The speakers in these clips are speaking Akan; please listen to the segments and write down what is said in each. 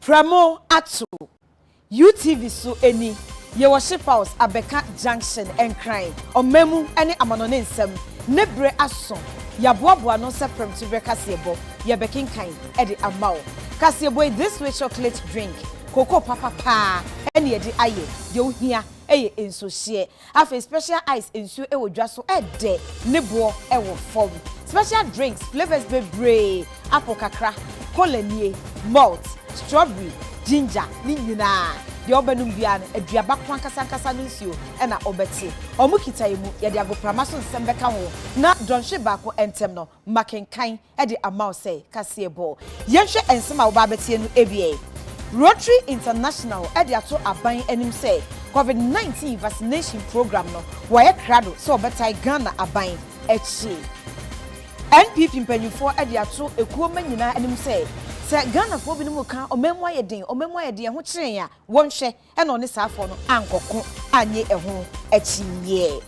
Prɛmo ato UTV so ɛni yɛ wɔ Ship House Abɛka Junction Nkran ɔmamu ne amanɔne nsɛm ne bere aso yɛaboaboa ano sɛ prɛmtoberɛ kaseɛbɔ yɛbɛkenkan de ama wo kaseɛbɔ yi this way chocolate drink cocoa papa paa ne yɛde ayɛ deɛ wohia yɛ nsuohyeɛ Afei special ice nsuo ɛwɔ dwa so ɛdɛ ne boɔ ɛwɔ fam. Special drinks flavours bebree apple kakra, cola nie, malt, strawberry, ginger ne nyinaa deɛ wobɛnom biara no aduaba ko ankasa ankasa no nsuo ɛna wobɛte. Wɔn kita yɛ mu yɛde agoprama so nsɛm bɛka ho na dɔnhwere baako ɛntɛm no makenkan de ama wo sɛ kaseɛbɔ. Yɛnhwɛ nsɛm a wobɛ abɛteɛ no awiei. Rotary International de ato aban anim sɛ Covid 19 vaccination program no wɔayɛ krado sɛ wɔbɛtae Ghana aban akyi. NPP mpanyimfoɔ de ato ekuo mma nyinaa anim sɛ sɛ Ghanafoɔ binom reka ɔman mu ayɛ den, ɔman mu ayɛ den, ɛho kyere yɛn a, wɔnhwɛ. Ɛna ɔne saa foɔ no ankɔko annye ɛho akyinnyeɛ.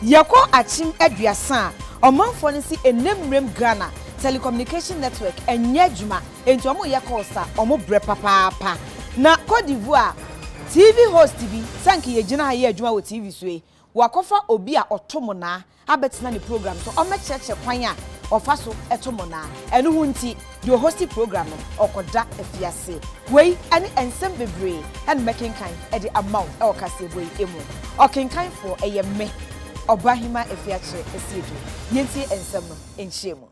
Yɛkɔ akyem aduasa a, ɔmanfoɔ no se ɛnnɛ mmerɛm Ghana Telecommunication Network nnyɛ adwuma, enti wɔyɛ calls a wɔbrɛ papaapa. Na Cote d'Ivoire TV host bi, sɛ anka yɛgyina ha yɛ adwuma wɔ TV so yi, wakɔfa obi a ɔto monaa abɛtsena ne program do, ɔmmɛkyerɛkyerɛ kwan a ɔfa so to mbɔnaa. Ɛno ho ntsi, deɛ ɔhosti program no, ɔkɔda afiase. Wei ne nsɛm bebree na mɛkenkan de ama wo wɔ kaseɛbɔ yi mu. Ɔkenkanfoɔ yɛ me, Ɔbaahemaa Afiakyere Asiedu. Yɛntie nsɛm no nhyiamu.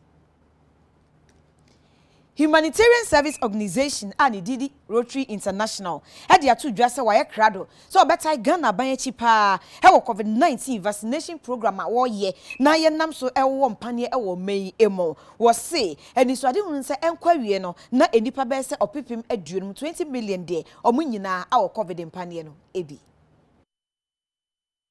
Humanitarian Service Organisation a ne din de Rotary International de ato dwa sɛ wɔayɛ krado sɛ wɔbɛtae Ghana aban akyi paa wɔ Covid 19 vaccination program a wɔyɛ na yɛnam so wɔ mpaneɛ wɔ ɔman yi mu. Wɔse anisoadehunu ne sɛ ɛnkɔ awiee no na nnipa bɛyɛ sɛ ɔpepem aduonum, 20 million, de wɔn nyinaa awɔ Covid mpaneɛ no bi.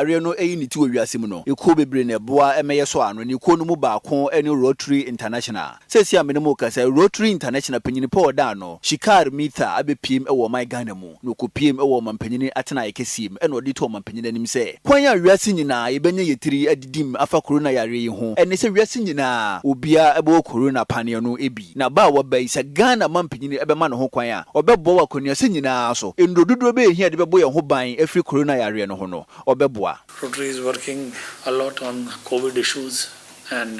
yareɛ no ayi ne ti wɔ wiase mu no, ekuo bebree na ɛboa ma ɛyɛ sɔ ano, na ekuo no mu baako ne Rotary International. Seesei a me ne mo rekasa yi, Rotary International panyin pa a ɔda ano, Shikar Mithar, abɛpiem wɔ ɔman Ghana mu, na ɔkɔpiem wɔ ɔmampanyin atenaeɛ kɛseɛ mu, ɛna ɔde reto ɔmampanyin anim sɛ, Kwan a wiase nyinaa yɛbɛnya yɛn tiri adi, dim afa korona yareɛ yi ho ɛne sɛ wiase nyinaa obiara bɛwɔ korona paneɛ no bi. Na ba a waba yi, sɛ Ghana mampanin bɛma ne ho kwan a, ɔbɛboa wɔ akɔneasa nyinaa so. Nnuro dodoɔ bɛyɛ hia a yɛde bɛbɔ yɛn ho ban afiri korona yareɛ no ho no, ɔbɛboa. Rotary is working a lot on covid issues and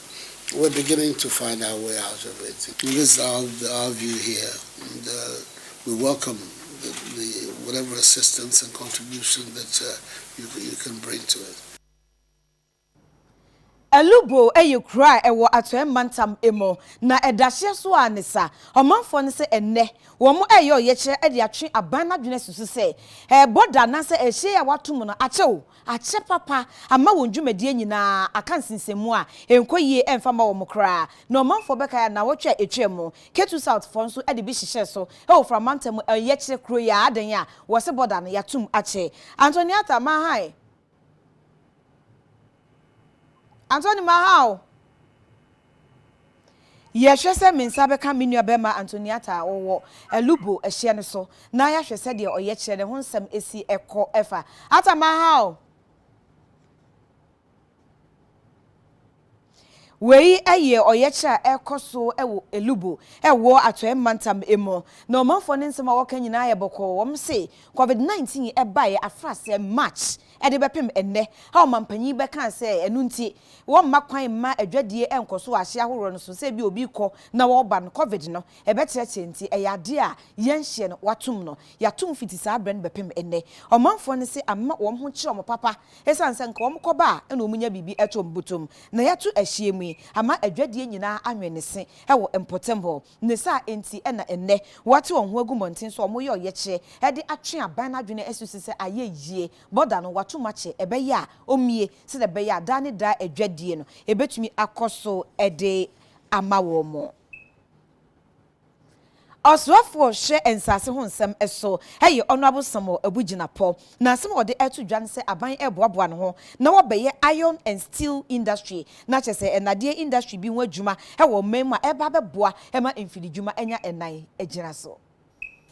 We're beginning to find our way out of it. This is our, our view here. And, uh, we welcome the, the, whatever assistance and contribution that uh, you, you can bring to it. Alubo yɛ kuro a ɛwɔ Atɔɛ mantam mu, na ɛda hyeɛ so a ne sa. Ɔmanfoɔ no sɛ ɛnnɛ wɔn reyɛ ɔyɛkyerɛ de atwe aban no adwene asusu sɛ ɛrebɔ da anaasɛ ɛhyɛn a wɔato mu no akyɛ wo Akyɛ papa ama wɔn dwumadie nyinaa aka nsensɛnmu a ɛnkɔ yie ɛmfa mma wɔn koraa na ɔmanfoɔ bɛkae a nnawɔtwe a ɛtwaam mu Ketu South foɔ nso de bi hyehyɛɛ so wɔ Fra mantam mu Yɛkyerɛ kuro yi a adɛn a wɔse bɔda no yɛatom akyɛ Antoniata Mahae Antoni Mahaw Yɛhwɛ sɛ me nsa bɛka me nuabarima Antoniata a ɔwɔ Alubo ɛhyeɛ no so na yɛahwɛ sɛdeɛ ɔyɛkyerɛ no ho nsɛm si kɔ fa. Atta Mahao! Wei yɛ ɔyɛkyerɛ a ɛrekɔ so wɔ Alubo ɛwɔ Atɔeɛ mantam mu. Na ɔmanfoɔ no nsɛm a wɔka nyinaa yɛ bɔkɔɔ. Wɔn se Covid 19 baeɛ afrasɛɛ March Ɛde bɛpem ɛnnɛ a ɔmampanyin yi bɛkaa sɛ ɛno nti wɔmma kwan mma adwadie ɛnkɔ so wɔ ahye ahoroɔ no so sɛ ebia obi rekɔ na ɔreba no covid no ɛbɛkyerɛkyerɛ nti ɛyɛ adeɛ a yɛnhyɛ no watom no yɛatom fiti saa berɛ no bɛpem ɛnnɛ ɔmanfoɔ no se amma wɔn ho kyerɛ wɔn papa ɛsiane sɛ nka wɔn kɔba a na wɔn nya biribi ɛto wɔn botom na yɛato ahyeɛ mu yi ama adwadie nyinaa anwene se ɛwɔ mpɔtam hɔ Ne saa nti na ɛnnɛ wɔate wɔn ho agu mmɔnten so a wɔreyɛ ɔyɛkyerɛ de atwe aban no adwene asi so sɛ ayɛ yie, bɔda no wɔato mu akyɛ, ɛbɛyɛ a ɔmmue sɛdeɛ ɛbɛyɛ a daa ne daa adwadie no ɛbɛtumi akɔ so de ama wɔn. Ɔsoafoɔ hwɛ nsase ho nsɛm so yɛ Honourable Samuel Abu Gyinapɔ. N'asɛm a ɔde ato dwa ne sɛ aban reboaboa ne ho na wɔbɛyɛ iron and steel industry, na kyerɛ sɛ nnadeɛ industry bi ho adwuma wɔ ɔman mu a ɛreba abɛboa ma mfididwuma anya nan agyina so.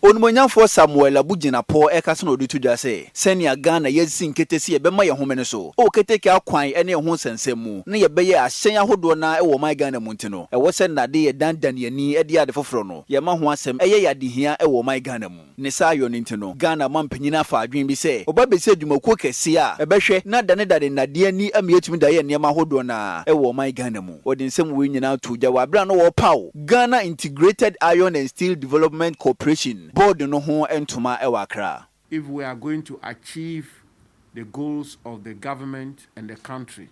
Onimuonyamfoɔ Samuel Abu Jinapor rekasa na ɔde to dwa sɛ sɛnea Ghana yɛasi nkete sɛ yɛbɛma yɛn homene so wɔ keteke akwan ne ɛho nsɛnsɛm mu na yɛbɛyɛ ahyɛn ahodoɔ no ara wɔ ɔman Ghana mu nti no ɛwɔ sɛ nnade yɛdanedane yɛn ani de yɛ ade foforɔ no yɛma ho asɛm yɛ yɛn adehia wɔ ɔman Ghana mu. Ne saa yɔ no nti no, Ghana mampanyin afa adwene bi sɛ wɔba abesi adwumakuo kɛseɛ a ɛbɛhwɛ na danedane nnadeɛ ani ama yɛatumi de ayɛ nneɛma ahodoɔ no ara wɔ ɔman Ghana mu. Wɔde nsɛm wei nyinaa too gya wɔ aberɛ a na wɔrepaw Ghana Integrated Iron and Steel Development Corporation Board no ho ntoma wɔ Accra. If we are going to achieve the goals of the government and the country,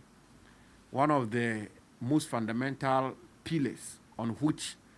one of the most fundamental pillars on which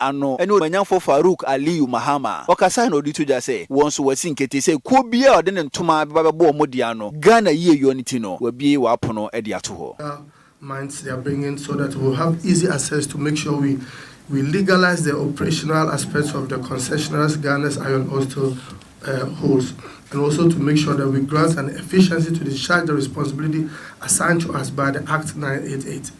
ano ne Ɔmanyamfo Farouk Aliyu Mahama. Ɔkasae na ɔde to dwa sɛ wɔn nso wɔasi nkete sɛ kuo biara a ɔde ne ntoma bɛba bɛbɔ wɔn de ano, Ghana yieyɔ no ti no, wabue w'apono de ato hɔ. Minds they are bringing so that we will have easy access to make sure we we legalize the operational aspects of the concessionaires Ghana's iron ore still holds and also to make sure that we grant an efficiency to discharge the responsibility assigned to us by the Act 988.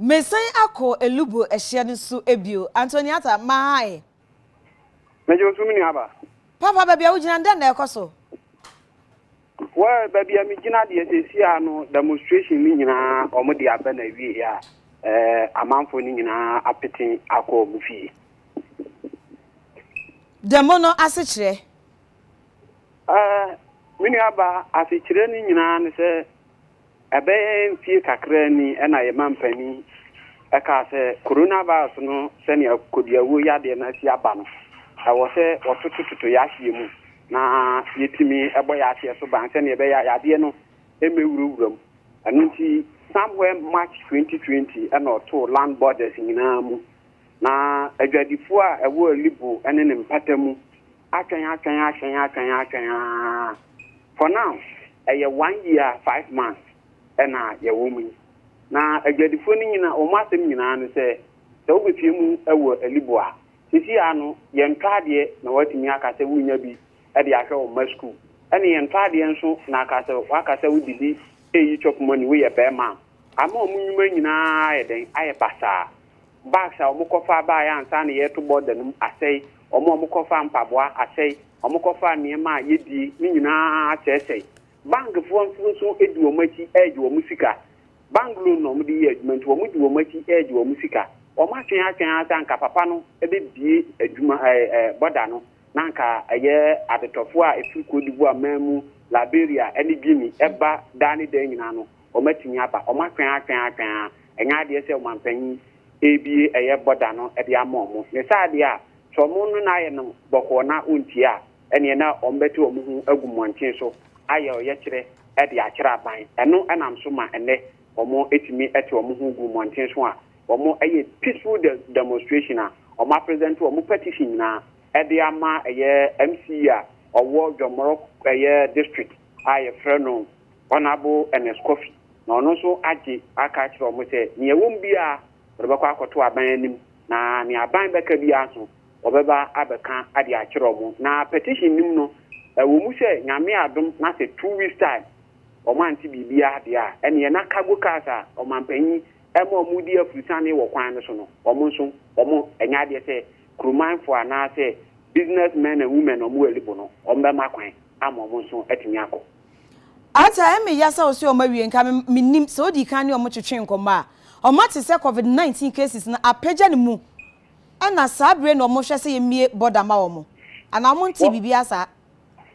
Meresan akɔ Elubu ɛhyeɛ no so bio. Antoniata, Mahae. Megye wo so, me nuaba. Papa, baabi a wogyina no, dɛn na ɛrekɔ so? Well, baabi a megyina deɛ seesei a no, demonstration no nyinaa wɔde aba no awieeɛ a, eh, amanfoɔ no nyinaa apete akɔ wɔn fie. Demo no asekyerɛ? Eh, me nuaba, asekyerɛ no nyinaa ne sɛ, Ɛbɛyɛ mfie kakraa ni na yɛn mampanin kaa sɛ coronavirus no sɛnea kodiawuo yadeɛ no asi aba no, ɛwɔ sɛ wɔtotototo yɛn ahyeɛ mu na yɛtumi bɔ yɛn ahyeɛ so ban sɛnea ɛbɛyɛ a yadeɛ no mmɛwurawura mu. Ɛno nti, somewhere March 2020 na ɔtoo land borders nyinaa mu, na adwadifoɔ a ɛwɔ Alibo ne ne mpata mu Atwɛn atwɛn atwɛn atwɛn atwɛn aa for now ɛyɛ one year five months ɛna yɛwɔ mu yi na adwadifoɔ no nyina wɔn asɛm nyinaa no sɛ sɛ wobɛpie mu ɛwɔ alibo a sisi aa no yɛntɔ adeɛ na watumi aka sɛ wonya bi ɛde ahwɛ wɔn ma school ɛne yɛntɔ adeɛ nso na aka sɛ waka sɛ wode bi ɛyi chop money woyɛ bɛɛma a ama wɔn nwuma nyinaa ayɛ dɛn ayɛ basaa Bags a wɔkɔfaa baeɛ ansa na yɛreto border no mu asɛe, wɔn a wɔkɔfaa mpaboa asɛe, wɔkɔfaa nneɛma a yɛdie no nyinaa asɛesɛe. Bankfoɔ nso di wɔn akyi regye wɔn sika. Bank loan na wɔde yɛ adwuma nti wɔdi wɔn akyi regye wɔn sika. Wɔatwɛn atwɛn ara sɛ anka papa no bɛbue adwuma ɛɛ border no na anka ɛyɛ adetɔfoɔ a ɛfiri Côte d'Ivoire man mu, Liberia ne Guinea ba daa ne daa nyinaa no wɔatumi aba. Wɔatwɛn atwɛn atwɛn ara. Ɛnyɛ adeɛ sɛ ɔmanpanyin rebie ɛyɛ bɔda no de ama wɔn. Ne saa deɛ a, sɛ wɔn no na ayɛ no bɔkɔɔ na wɔntie a, ɛneɛ na wɔbɛte wɔn ho agu mmɔnten so ayɛ ɔyɛkyerɛ de akyerɛ aban. Ɛno nam so ma ɛnnɛ wɔn tumi te wɔn ho gu mmɔnten so a wɔyɛ peaceful demonstration a wɔapresente wɔn petition nyinaa de ama ɛyɛ MC a ɔwɔ Dwɔmmorɔ ɛyɛ district a yɛfrɛ no Honourable Ernest Kofi, na ɔno nso agye aka akyerɛ wɔn sɛ nea ɛwɔ mu biara wɔde bɛkɔ akɔto aban anim na nea aban bɛka biara nso wɔbɛba abɛka de akyerɛ wɔn. Na petition no mu no, ɛwɔ mu sɛ Nyame adom na sɛ two weeks time wɔn ante biribiara deɛ a, ɛneɛ na cargo cars a ɔmanpanyin ɛma wɔn di afurusane wɔ kwan no so no, wɔn nso wɔn ɛnyɛ adeɛ sɛ kuromanfoɔ anaasɛ business men and women a wɔwɔ Alibo no, wɔbɛma kwan ama wɔn nso atumi akɔ. Arthur, ɛmmee ya sɛ wosee wɔawie, nka me, minnim, sɛ wodii kan ne wɔn twetwee nkɔmmɔ a. Wɔate sɛ Covid nineteen cases no apagya ne mu, ɛna saa bere no wɔhwɛ sɛ yemmue border ma wɔn. Anaa wɔntee biribiara saa?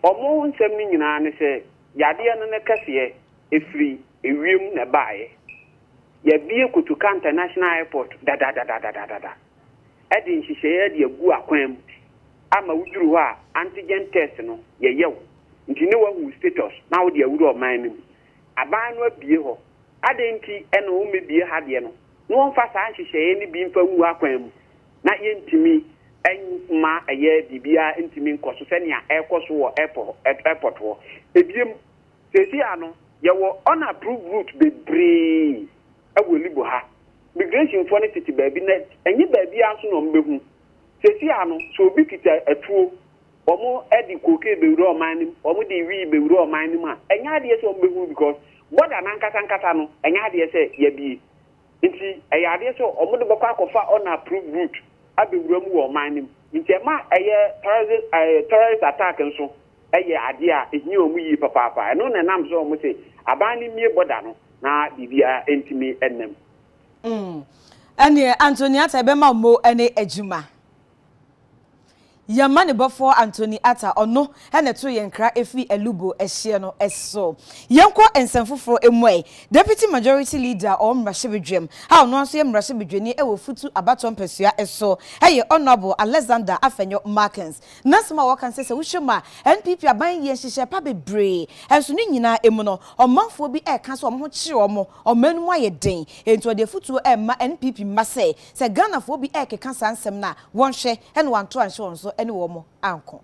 Wɔn nsɛm no nyinaa ne sɛ yadeɛ no ne kɛseɛ ɛfiri ewiem na ɛbaeɛ. Yɛabue Kotoka International Airport dadadadadadada. de nhyehyɛeɛ de agu akwan mu ama woduru hɔ a antigen test no yɛyɛ wo nti ne wahu wo status na wode awura ɔman no mu. Aban no abue hɔ, adɛn nti na wɔmmɛbue ha deɛ no na wɔmfa saa nhyehyɛeɛ no bi mfa ngu akwan mu na yɛntumi mma ɛyɛ biribiara ntumi nkɔ so sɛnea ɛrekɔ so wɔ airport hɔ. Ebiem, seesei ano yɛwɔ unapproved route bebree. wɔ Anibo ha. Migrationfoɔ no tete baabi na ɛnyɛ baabiara nso na wɔbɛhu. Seesei ara no, sɛ obi kita atuo, wɔde kookee bɛwura ɔman no mu, wɔde wii bɛwura ɔman no mu a, ɛnyɛ adeɛ sɛ wɔbɛhu no because border no ankasa ankasa no, ɛnyɛ adeɛ sɛ yɛabue. Nti ɛyɛ adeɛ sɛ wɔde bɛkɔ akɔfa unapproved route abɛwura mu wɔ ɔman no mu. Nti ɛma ɛyɛ terrorism, eh, terrorist attack nso yɛ adeɛ a ɛhia wɔn yie papaapa. Ɛno na ɛnam so a wɔse aban no mmue bɔda no na biribiara ntumi nna mu. Mm, ɛneɛ Anthony Atta ɛbɛma mo ne adwuma. Yɛn manebɔfoɔ Anthony Atta, ɔno na ɛtoo yɛn kra firi Alubo ɛhyeɛ no so. Yɛnkɔ nsɛm foforɔ mu ɛ, Deputy Majority Leader wɔ mmarahyɛbadwam a ɔno ara nso yɛ mmarahyɛbadwani wɔ Futu abatoɔ mpasua so yɛ Honourable Alexander Afenyo Markins. Ná asɛm a wɔka ne sɛ sɛ wohwɛ mu a, NPP aban yɛ nhyehyɛe pa bebree, nso ne nyinaa mu no, ɔmanfoɔ bi reka sɛ wɔn ho kyere wɔn, ɔman no mu ayɛ den. Enti ɔde afotuo rema NPP mma sɛ, sɛ Ghanafoɔ bi rekeka saa nsɛm no a, wɔnhwɛ na wɔanto anhyɛ wɔn so ne wɔn anko.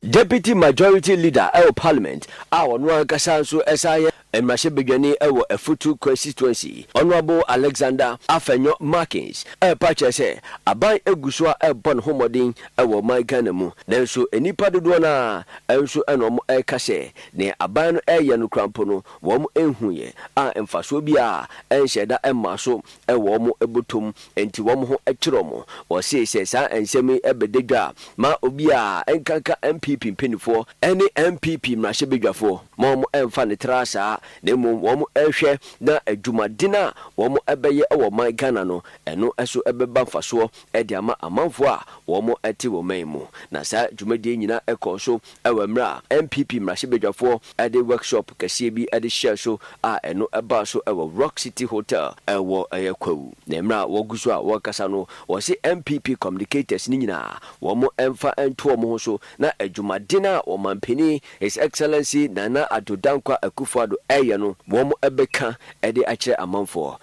Deputy Majority Leader wɔ Parliament a ɔno ankasa nso san yɛ Mmarahyɛbadwani wɔ Afutu Constituency, Honourable Alexander Afenyo Markins repa akyerɛ sɛ aban gu so ara rebɔ ne ho mmɔden wɔ ɔman Ghana mu, nanso nnipa dodoɔ no ara nso na wɔreka sɛ nea aban no reyɛ no koraa mpo no wɔnhuiɛ a mfasoɔ biara nhyɛɛ da mmaa so wɔ wɔn bɔtɔ mu, enti wɔn ho twerɛ wɔn. Wɔsee sɛ saa nsɛm yi bɛda dwa a, ma obiara nkanka NPP mpaninfoɔ ne NPP mmarahyɛbadwafoɔ ma wɔn mfa no tra saa, na mmom wɔn nhwɛ na adwumaden a wɔn bɛyɛ wɔ man Ghana no, ɛno so bɛba mfasoɔ de ama amanfoɔ a wɔn te wɔn man mu. Na saa dwumadie nyinaa kɔɔ so Wɔ mmerɛ a NPP mmarahyɛbadwafoɔ de workshop kɛseɛ bi de hyɛɛ so a ɛno baa so wɔ Rock City Hotel wɔ Kwawu. Na mmerɛ a wɔgu so a wɔrekasa no, wɔse NPP communicators no nyinaa wɔmfa nto wɔn ho so na adwumaden a Ɔmanpanin His Excellency Nana Addo Dankwa Akufo-Addo reyɛ no wɔbɛka de akyerɛ amanfoɔ.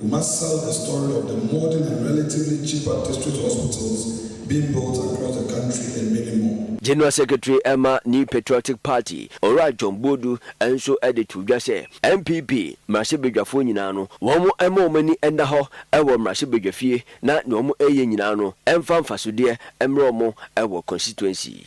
We must sell the story of the modern and relatively cheaper district hospitals being built across the country and many more. General Secretary ma New Patriotic Party, Owura John Boadu nso de too dwa sɛ NPP mmarahyɛbadwafoɔ nyinaa no, wɔmma wɔn ani nna hɔ wɔ mmarahyɛbadwafie na deɛ wɔreyɛ nyinaa no mfa mfasodeɛ mmrɛ wɔn wɔ constituency.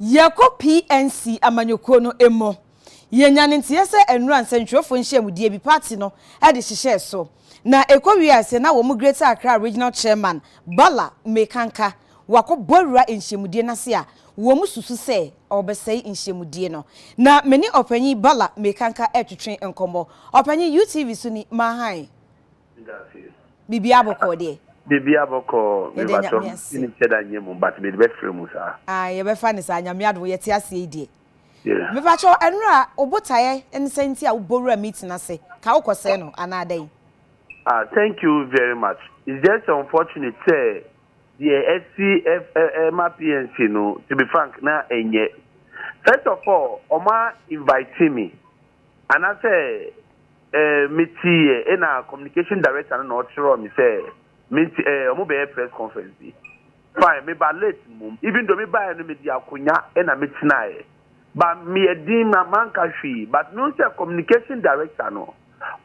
Yɛkɔ PNC amanyɔkuo no mu. Yɛnya no nteɛ sɛ nnora nsɛntwerɛfoɔ nhyiamudie bi party no de hyehyɛɛ so. Na ɛkɔ wiee aseɛ na wɔn Greater Accra Regional Chairman Bala Mekanka wakɔ bɔawura nhyiamudie no ase a wɔn susu sɛ ɔrebɛsɛe nhyiamudie no. Na me ne Ɔpanyin Bala Mekanka retwetwe nkɔmmɔ. Ɔpanyin, UTV so ni, Mahan. Medase. Biribiara bɔkɔɔ deɛ? Biribiara bɔkɔɔ Yɛda Nyame mebatom ase. Menim sɛ da nnyɛ mu but mede bɛfrɛ mu saa. Ae yɛbɛfa no saa Nyame adom yɛte aseɛ yi deɛ. Yeah. Mepakyɛw Anura wo botaeɛ ne sɛn nti a wo bɔ wura meeting ase ka wo kɔ sɛɛ no anaa dɛn? Ah thank you very much it's just unfortunate sɛ deɛ asi ɛma PNC no to be frank na ɛnyɛ first of all wɔn a invite me Anasɛ eh me tsi yɛ ena communication director no na ɔkyerɛw me sɛ mentsi eh ɔmo bɛyɛ press conference bi. Fine me ba late mbom even though me bae no me dze akonwa ena me tsenae ba me yɛ dinn ma mannka hwee but mehu sɛ communication director no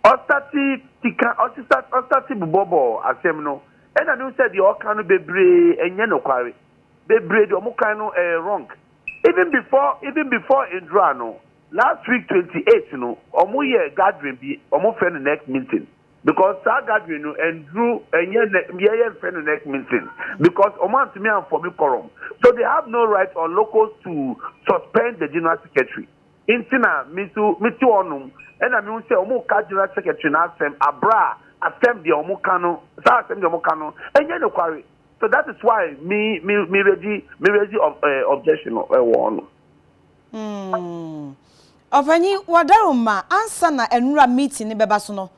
ɔstate keka ɔsesat ɔstate bobɔbɔ asɛm no ena mehu sɛ deɛ ɔka no bebree ɛnyɛ nokware bebree deɛ ɔmo kan no ɛyɛ wrong even before even before ndura no Last week twenty eight no ɔmo yɛ gathering bi ɔmo frɛ no nec meeting because saa gathering no ɛnduru ɛnyɛ yɛ yɛ nfrɛ no nec meeting because ɔmo antumi anfɔmi kɔrɔm so they have no right on locals to suspend the general secretary nti na me nso me te hɔ nom ɛna me hu sɛ ɔmo ka general secretary no asɛm abra asɛm deɛ ɔmo ka no saa asɛm deɛ ɔmo ka no ɛnyɛ nokware so that is why me me me regi me regi of ɛɛ eh, objection no ɛwɔ hɔ nom. Hmm. Ɔpanyin, wɔdaro mma ansa na nnura meeting no bɛba so no,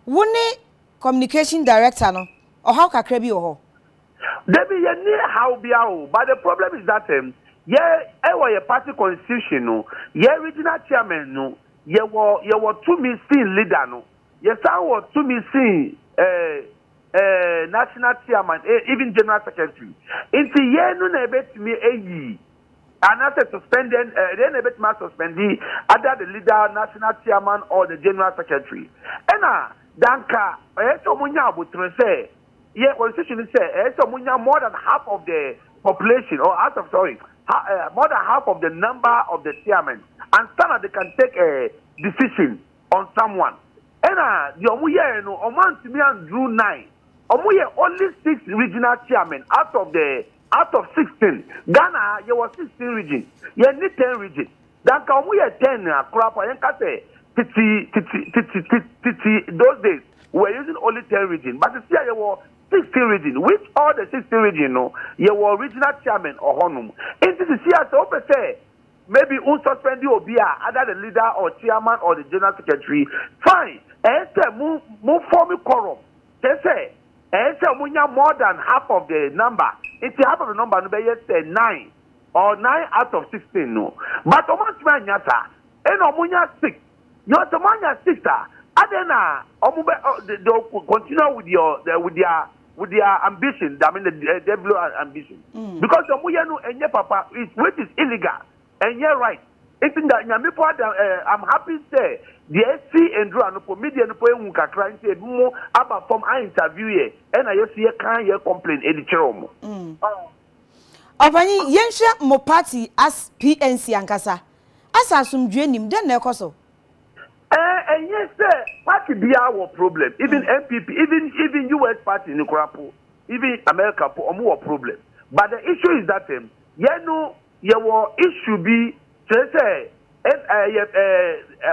wo ne Communication Director no, ɔhaw kakra bi wɔ hɔ? Dabi, yɛnni haw biara o, but the problem is that um, yɛ, ɛwɔ yɛ party constitution no, yɛ regional chairman no, yɛwɔ, yɛwɔ tumi sen leader no, yɛsan wɔ tumi sen eh, eh, national chairman, eh, even general secretary. Nti yɛn no na yɛbɛtumi ayi Anaasɛ suspended ɛ? Ɛdeɛn na ɛbɛtumi a suspendi ada the leader, national chairman or the general secretary? Ɛna danka ɛyɛ sɛ wɔn nya abotire sɛ yɛ constitution no sɛ ɛyɛ sɛ wɔn nya more than half of the population or out of sorry ha, uh, more than half of the number of the chairman and sana they can take a decision on someone. Ɛna deɛ wɔn yɛɛ no wɔn antumi anduru nine wɔn yɛ only six regional chairman out of the out of sixteen Ghana ha yɛwɔ sixteen regions yɛn ni ten region da nka wɔn yɛ ten a koraa po a yɛn ka sɛ titi titi titi titi those days we were using only ten region but sisi a yɛwɔ sixteen region which all the sixteen region no yɛwɔ regional chairman ɔhɔnom nti sisi a sɛ wopɛ sɛ maybe un suspend obi a either the leader or chairman or the general secretary fine ɛyɛ sɛ mo mo form quorum Kyerɛ sɛ, ɛyɛ sɛ wɔnya more than half of the number, nti half of the number no bɛyɛ sɛ nine, or nine out of sixteen no. But wɔantumi annya saa, ɛnna wɔnya six. Now sɛ wɔanya six a, adɛn na wɔbɛ ɔ they they will continue with your the with their with their ambition, I mean the eh, devil ambition, because wɔyɛ no ɛnyɛ papa, it's which is illegal. Ɛnyɛ right nti da nyame po ada eh I'm happy sɛ deɛ asi ndura no po media no po ahu kakra nti ebi mo aba fam a interview yɛ ɛna yɛ so yɛ kan yɛ complain ɛde kyerɛ ɔmo. Mm. Ɔpanyin, yɛnhwɛ mo party as PNC ankasa. Asa asomdwoe nnim, dɛn na ɛkɔ so? Ɛɛ, ɛnyɛ sɛ party biara wɔ problem, even NPP, even even US party no koraa po, even America po, ɔmo wɔ problem. But the issue is that ɛm, yɛn no, Yɛwɔ issue bi kyerɛ sɛ yɛ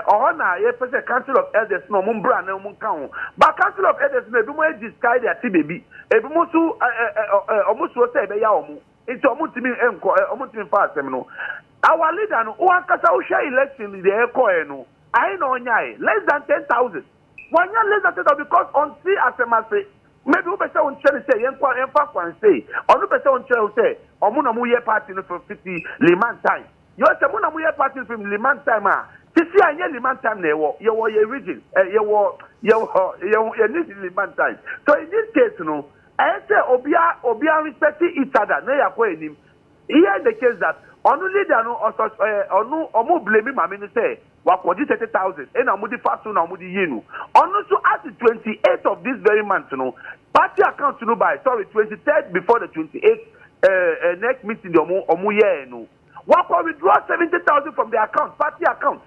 ɔhɔ na yɛpɛ sɛ council of elders na ɔmo mbra na ɔmo nka ho but council of elders na ebinom ayi sika de ate baabi ebinom nso ɔmo suro sɛ ɛbɛya ɔmo nti ɔmo ntumi nkɔ ɔmo ntumi nfa asɛm no our leader no wankasa wohwɛ election deɛ ɛkɔɛ no ahe na ɔnyae less than ten thousand. Wanya laser teta because ɔnte asɛm ase. Maybe wo pɛsɛ wo nkyerɛ no sɛ yɛnkɔ yɛnfa kwan sei. Ɔno pɛsɛ wo nkyerɛ no sɛ ɔmo na ɔmo yɛ party no from fiti Liman time. Yɔ sɛ mo na mo yɛ party no from Liman time a, sisi a ɛnyɛ Liman time na yɛwɔ. Yɛwɔ yɛn region eh yɛwɔ yɛwɔ yɛn yɛn need Liman time. So in this case no, ɛyɛ sɛ obia obia respect each other na yɛakɔ anim. Here in the case that ɔno leader no ɔsɔ eh ɔno ɔmo blame maame no sɛ wakɔgye thirty thousand ɛna wɔde fa so na wɔde yii no ɔno nso as twenty eight of this very month no party account no bae sorry twenty third before the twenty eight ɛɛ ɛɛ next meeting deɛ wɔn wɔn yɛɛ no wakɔ withdraw seventy thousand from the account party account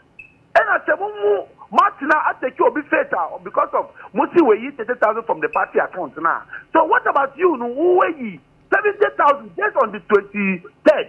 ɛna sɛ mo mu mo atena atɛki obi faith a because of mo si wɔ yi thirty thousand from the party account na so what about you no wo wɔ yi seventy thousand just on the twenty third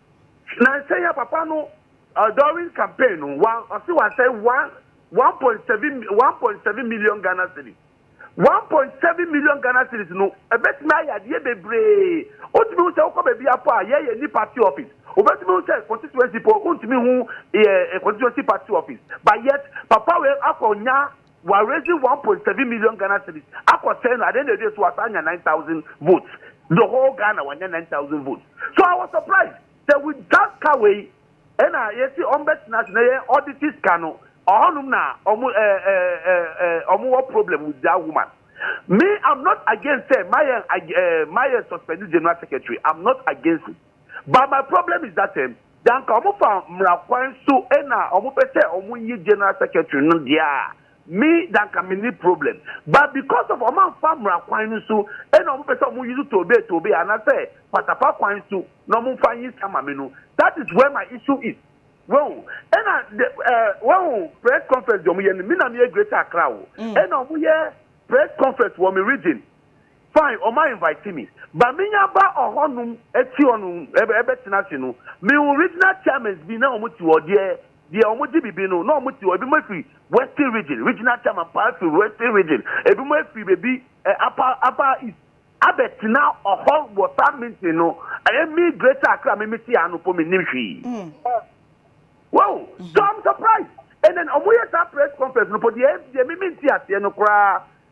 Nansa yi a papa no during campaign no ɔse wasɛe one point seven one point seven million Ghana cedis one point seven million Ghana cedis no ɛbɛtumi ayɛ adeɛ bebree wotumi hu sɛ wokɔ baabi apɔ a yɛyɛ ni party office wobɛtumi hu sɛ constituency po wontumi hu constituency party office but yet papa wei akɔ nya Wa raise one point seven million Ghana cedis akɔ sɛɛ no adeɛ na ɛwie so wasan anya nine thousand votes the whole Ghana wanya nine thousand votes so I was surprised sɛ with saa sika wei ɛna yɛsi wɔn bɛ tena ase na yɛ auditi sika no ɔhɔnom na wɔn ɛɛ eh, ɛɛ eh, ɛɛ eh, ɛɛ wɔn wɔ problem with that woman me I'm not against sɛ mayɛ ɛɛ mayɛ suspend general secretary I'm not against it. but my problem is that um da anka ɔmo fa mmra kwan so ɛna ɔmo pɛ sɛ ɔmo yɛ general secretary no deɛ a me da anka me ni problem but because of ɔmo anfa mmra kwan no so ɛna ɔmo pɛ sɛ ɔmo use tobe tobe anasɛ patapa kwan so na ɔmo nfa yi sama me no that is where my issue is wɔn ɛna de ɛɛ eh, wɔn press conference deɛ ɔmo yɛ no me na me yɛ greater accra o ɛna mm. ɔmo yɛ press conference wɔ me region. Fine wɔn invite me but me nya ba ɔhɔ nom ti hɔ nom bɛ tena ase no me hu regional chairmans bi na wɔn ti hɔ deɛ deɛ wɔn gye bibi no na wɔn ti hɔ ebi mo firi western region regional chairman paa firi western region ebi mo firi bebi eh, apa apa east abɛ tena ɔhɔ wɔ saa meeting no ɛyɛ me greater akra me me ti ano po me nim hwii mm. wow mm-hmm. so i'm surprised and then wɔn yɛ saa press conference no po deɛ deɛ me me nti aseɛ no koraa.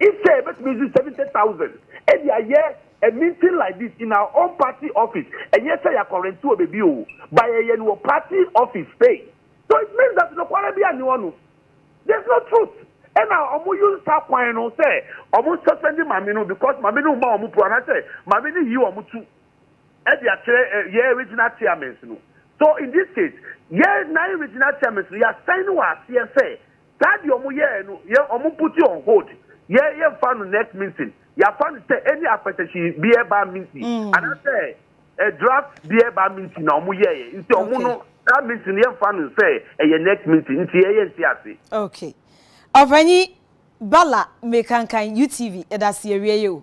Instead ebetumi dze seventy thousand de ayɛ a meeting like this in our own party office, nnyɛ sɛ yɛakɔ rente wɔ beebi o, but yɛyɛ no wɔ party office space. So it means that nokwar biara nnyi hɔ no, there is no truth. Nna wɔn use saa kwan no sɛ wɔn suspend Maame no because Maame no mma wɔn pru anaasɛ Maame no yi wɔn tu de akyerɛ yɛn regional chairmans no. So in this case, yɛn nine regional chairmans no yɛasan no wɔ aseɛ sɛ, Saa deɛ ɔmo yɛɛ no yɛn ɔmo put it on hold yɛn yɛn fa no next mintin yafa no sɛ any apɛtɛhyi beɛ ba minti anaa sɛ ɛ draft beɛ ba minti na ɔmo yɛɛ nti ɔmo no saa minti no yɛn fa no sɛ ɛyɛ next minti nti yɛ yɛn ti ase. Ok ɔpanyin Bala mekankan UTV ɛda ase yɛ wie yɛ o.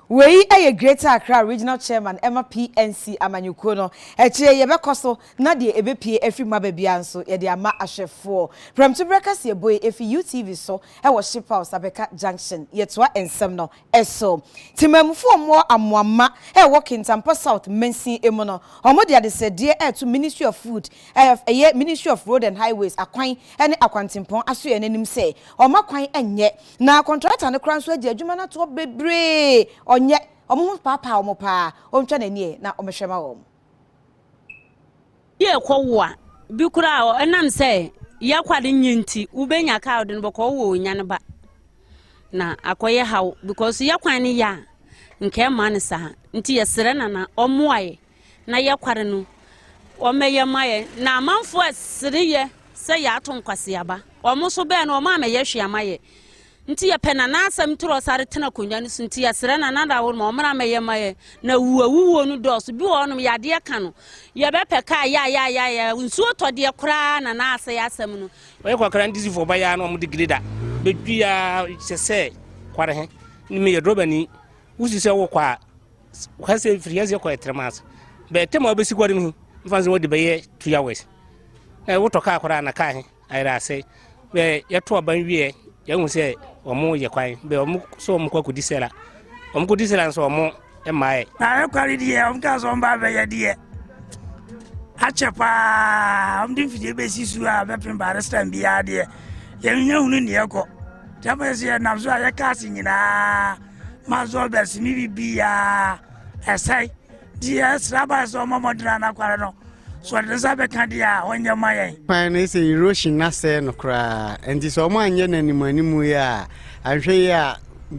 Wei yɛ Greater Accra Regional Chairman ma PNC amanyɔkuo no. Akyire yɛbɛkɔ so na deɛ ɛbɛpue afiri mu aba biara nso yɛde ama ahwɛfoɔ. Prɛmtoberɛ kaseɛ bue ɛfiri UTV so wɔ Shiphouse Abeka Junction. Yɛtoa nsɛm no so. Temanmufoɔ Moore Amoamma a ɛwɔ Kintampo South mansin mu no, wɔde adesrɛdeɛ reto Ministry of Food ɛyɛ Ministry of Road and Highways akwan ne akwantempɔn asoɛeɛ no anim sɛ wɔmma kwan nyɛ Na kɔntrata no koraa nso agye adwuma no atoɔ bebree. Ɔnyɛ. Wɔn ho paapaa wɔn paa. Ɔntwa n'ani ɛ na ɔmɛhwɛ ma wɔn. Yɛ kɔ wo a, bi koraa ɔ, ɛnam sɛ yɛ kwa de nye nti, wo bɛ nya kaa ɔde no bɛ kɔ ɔ wɔ ɔnya no ba. Na akɔ yɛ haw, because yɛ kwan no yɛ a, nka ɛmma no saa. Nti yɛ srɛ Nana ɔmmoa yɛ. na yɛkwar no, wɔmɛyɛ ma yɛ, na amamfo a sere yɛ sɛ yɛato nkwaseaba, wɔn so bɛn no, wɔn a mɛyɛ hwee ama yɛ nti yɛpɛ na n'asɛm toro sa retena akonnwa no so nti yɛsrɛ na nada wɔn ma wɔn a mɛyɛ ma yɛ na wu awuwuo no dɔɔso bi wɔ hɔnom yadeɛ ka no yɛbɛpɛ kaa yaayaayaya nsuo tɔdeɛ koraa na n'asɛ yɛ asɛm no wɔyɛ kwakra ndizifo ɔba yɛ ano wɔn de greda bɛdwi yɛ kyɛ sɛ kware he ne meyɛ drɔbani wosi sɛ wokɔ a Kwa sɛ firi yɛn sɛ kɔ ɛtrɛma ase bɛɛ tɛm a wobɛsi kɔre no hi mfa sɛ wɔde bɛyɛ two hours na wotɔ kaa koraa na kaa he ayerɛ ase bɛɛ yɛto aban wieɛ yɛhu sɛ ɔmo yɛ kwan bɛɛ ɔmo sɛ ɔmo kɔ akɔdi sɛla ɔmo kɔdi sɛla nso ɔmo mmaeɛ na ɛkware deɛ ɔmo ka sɛ ɔmo ba bɛyɛ deɛ akyɛ paa ɔmo de mfidie bɛsi su a bɛpem barestan biara deɛ yɛnya hunu neɛ kɔ tɛmɛ sɛ yɛnam so a yɛka ase nyinaa maso bɛsi mi bibiaa ɛsɛe nti yɛsra ba sɛ ɔma mɔdena no akware no so ɔde ne nsa bɛka deɛ a ɔnyɛ ma yɛn kwan no sɛ erosion asɛe no koraa nti sɛ ɔmo anyɛ no animanimu yi a anhwɛ yi a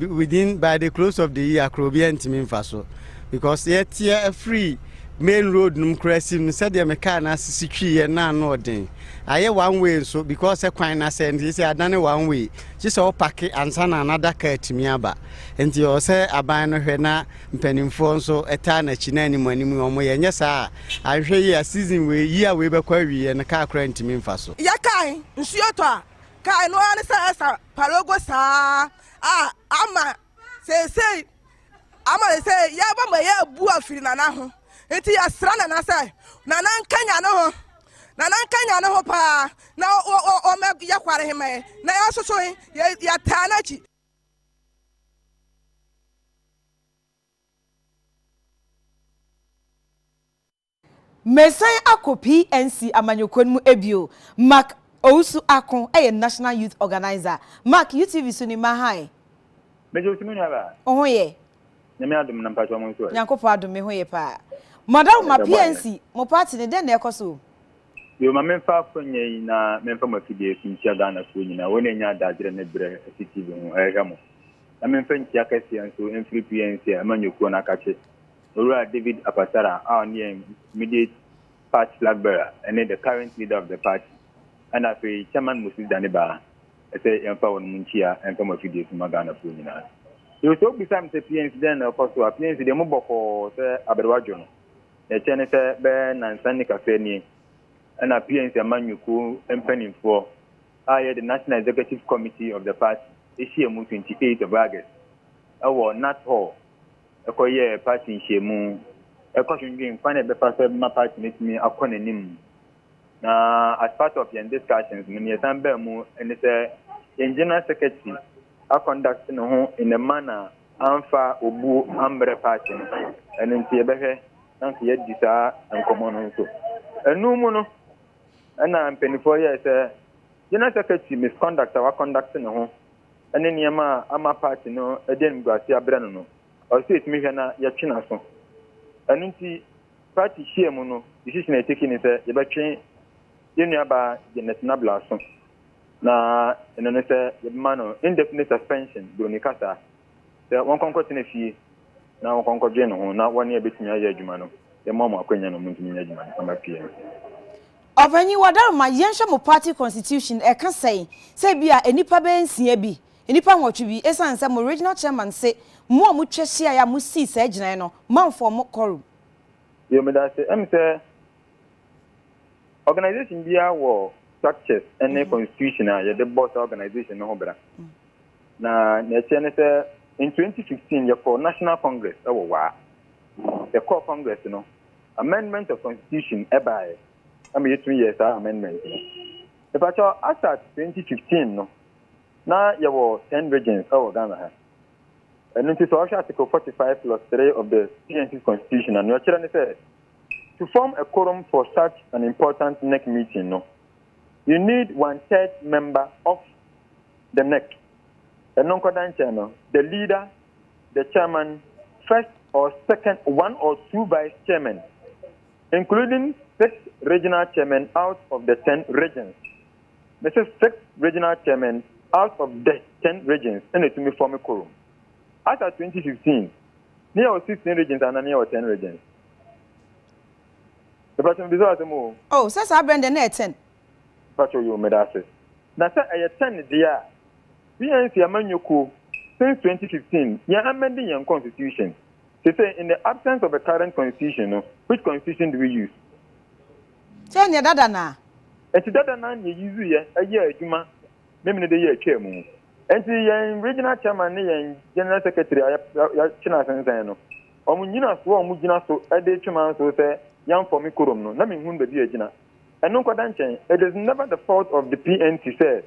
within by the close of the year koraa obiara ntumi mfa so because yɛteɛ afiri main road nom koraa si no sɛdeɛ me kaa no asisi twiiɛ no ano ɔden ayɛ one way nso because kwan no asɛe nti sɛ adane one way gye sɛ ɔpake ansa na n'adaka atumi aba. Enti ɛwɔ sɛ aban no hwɛ na mpanimfoɔ nso taa n'akyi na anim anim na wɔyɛ. Ɛnyɛ saa a, anhwɛ yie a season wei, yie a wei bɛkɔ awieɛ no, kaa koraa ntumi mfa so. Yɛkae nsuo tɔ a, kae no ara ne sɛ ɛsa palogo saa a, ama Seesei, ama ne sɛ yɛaba ma yɛabu afiri Nana ho. Nti yɛsrɛ Nana sɛ, Nana nkanya ne ho. Nana nkanya ne ho paa na ɔmɛ yɛ kware he ma yɛ. Na yɛasoso he, yɛtaa n'akyi. Meresan akɔ PNC amanyɔkuo no mu bio Mark Owusu Ako yɛ National Youth Organiser Mark, UTV so ni ma hann. Mede wo se me nua baa. Wo ho yɛ? Nyame adom na mpakyɛ ɔmo nso ɛ? Nyankopɔn adom me ho yɛ paa. Mo adaoma PNC mo party no dɛn na ɛkɔ so o? Yoo ma menfa akwannya yi na menfa mo afidie so nkyia Ghana foɔ nyinaa wɔn a ɛnya adaagyerɛ ne berɛ te TV ho hwɛhwɛ mo na menfa nkyia kɛseɛ nso mfiri PNC amanyɔkuo no akakye Owura David Apatara a ɔno yɛ immediate party flag bearer ne the current leader of the party ɛna afei Chairman Moses Danebaa sɛ yɛmfa wɔn mu nkyia mfa mu afidie so mma Ghanafoɔ nyinaa. Yo, sɛ wobisa me sɛ PNC dɛn na ɛkɔ so a, PNC deɛ mo bɔkɔɔ sɛ aberewa dwo no. Deɛ ɛkyerɛ ne sɛ bɛyɛ nnansa nni kakra nie ɛna PNC amanyɔkuo mpaninfoɔ a ɛyɛ the National Executive Committee of the party ɛhyiamu 28 of August ɛwɔ Nat Hall kɔyɛɛ party nhyiamu kɔdwendwen kwan a yɛbɛfa so ma party no atumi akɔ n'anim. Na as part of yɛn discussions no, nea ɛsan baa mu ne sɛ yɛn general secretary akɔnduct ne ho in a manner amfa obuo ammrɛ party no. Ɛno nti yɛbɛhwɛ na nso yɛadi saa nkɔmmɔ no nso. Ɛno mu no, ɛna mpanimfoɔ yɛɛ sɛ general secretary misconduct a wakɔnduct ne ho ne nneɛma a ama paati no de animguase abrɛ no no, ɔsɛ sɛ yɛtumi hwɛ na yɛtwe n'aso. Ɛno nti, paati hyia mu no, decision a yɛteki ne sɛ yɛbɛtwe yɛn nuabaa Janet Nabla aso, na ɛno ne sɛ yɛbɛma no indefinite suspension, Buroni kasa, sɛ wɔnkɔ nkɔtena fie na wɔnkɔ nkɔdwen ne ho na wɔne yɛn bɛtumi ayɛ adwuma no, yɛma wɔn akwanya na wɔntumi nyɛ adwuma no mma PMC. Ɔpanyin Wadarma, yɛnhwɛ mo party constitution, ɛka sɛn? Sɛ ebia nnipa bɛyɛ nsia bi, nnipa nwɔtwe bi, esiane sɛ mo regional chairman se mo a motwa hyiae a mosii saa gyinae no, moamfɔm mo quorum. Yo, medase. Ɛm sɛ organization biara wɔ structures ne constitution a yɛde bɔ saa organization no ho bra. Na nea ɛkyerɛ ne sɛ in 2015 yɛkɔɔ National Congress wɔ Waa. Yɛkɔɔ Congress no, amendment of constitution baeɛ ma yɛtumi yɛɛ saa amendment no. Mepakyɛw asat 2015 no na yɛwɔ ten regions wɔ Ghana ha. Ɛno nti sɛ wɔhwɛ article 45 plus 3 of the GNC's constitution a, nea ɔkyerɛ ne sɛ to form a quorum for such an important NEC meeting no, you need one third member of the NEC. Ɛno nkɔda nkyɛn no, the leader the chairman, first or second one or two vice chairmen, including six regional chairmen out of the ten regions. Mese six regional chairmen out of the ten regions ɛna ɛtumi fɔme quorum. As at 2015, ne yɛwɔ 16 regions anaa ne yɛwɔ 10 regions? Mepatwɛ mebisa wɔ asɛm o. Oh, sɛ saa berɛ no deɛ na ɛyɛ 10. Mpakyɛw yoo meda ase. Na sɛ ɛyɛ ten deɛ a, BNC amanyɔ kuo since twenty fifteen yɛn amending yɛn constitution. Sesei in the absence of the current constitution no which constitution do we use? Sɛ neɛ dada no a. Enti dada no ara na yɛ use yɛ ɛyɛ adwuma memene de yɛ atwaa mu. Enti yɛn regional chairman ne yɛn general secretary a yɛakye no asensɛn no, wɔn nyinasoɔ a wɔgyina so de retwe m'anso sɛ yɛnfɔme quorum no, na menhunu baabi a agyina. Ɛno nkɔda nkyɛn, it is never the fault of the PNC sɛ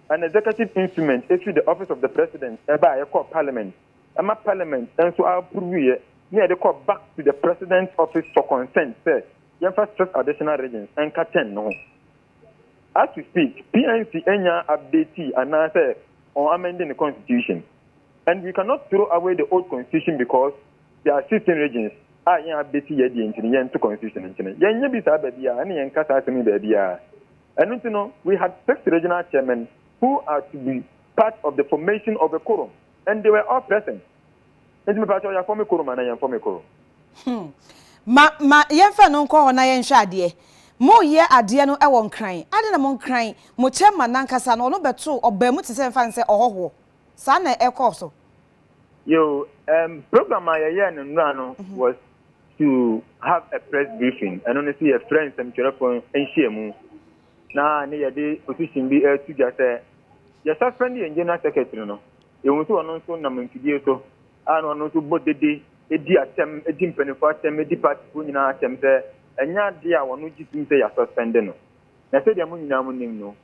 an executive instrument ɛfiri the office of the President ɛbaeɛ kɔɔ Parliament ɛma Parliament nso a approveeɛ na yɛde kɔɔ back to the President's office for consent sɛ yɛmfa six additional regions nka ten no ho. As we speak, PNC nnyaa updatii anaasɛ wɔn amende ne constitution and we cannot throw away the old constitution because There are sixteen regions a yɛn a bɛsi yɛ deɛ nti no yɛnto constitution nkyene. Yɛnyɛ bi saa baabiara ɛne yɛnka saa asɛm yi baabiara. Ɛno nti no we had six regional chairmen who are to be part of the formation of a quorum and they were all present. Nti me pakyɛw yɛafɔme quorum anaa yɛnfɔme quorum? Hmm. Ma, ma yɛmfa no nkɔ hɔ na yɛnhwɛ adeɛ. Moreyɛ adeɛ no wɔ Nkran. Adɛn na mo Nkran, mo chairman no ankasa no, ɔno bɛtoo, ɔbaa mu te sɛ, yɛmfa no sɛ ɔhɔhoɔ. Saa na ɛkɔɔ so. Yo, um, program a yɛyɛɛ no nnora no mhm. was to have a press briefing. Ɛno no sɛ yɛfrɛ nsɛmtwerɛfo nhyiamu. Na ne yɛde position bi ɛtu gya sɛ yɛ suspend yɛn general secretary no. Yɛhu sɛ ɔno nso nam mfidie so a na ɔno nso bɔ dede di atɛm di mpanimfoɔ atɛm di partyfoɔ nyinaa atɛm sɛ ɛnyɛ adeɛ a wɔn gye tum sɛ yɛ suspend no. Na sɛdeɛ mo nyinaa mo nim no,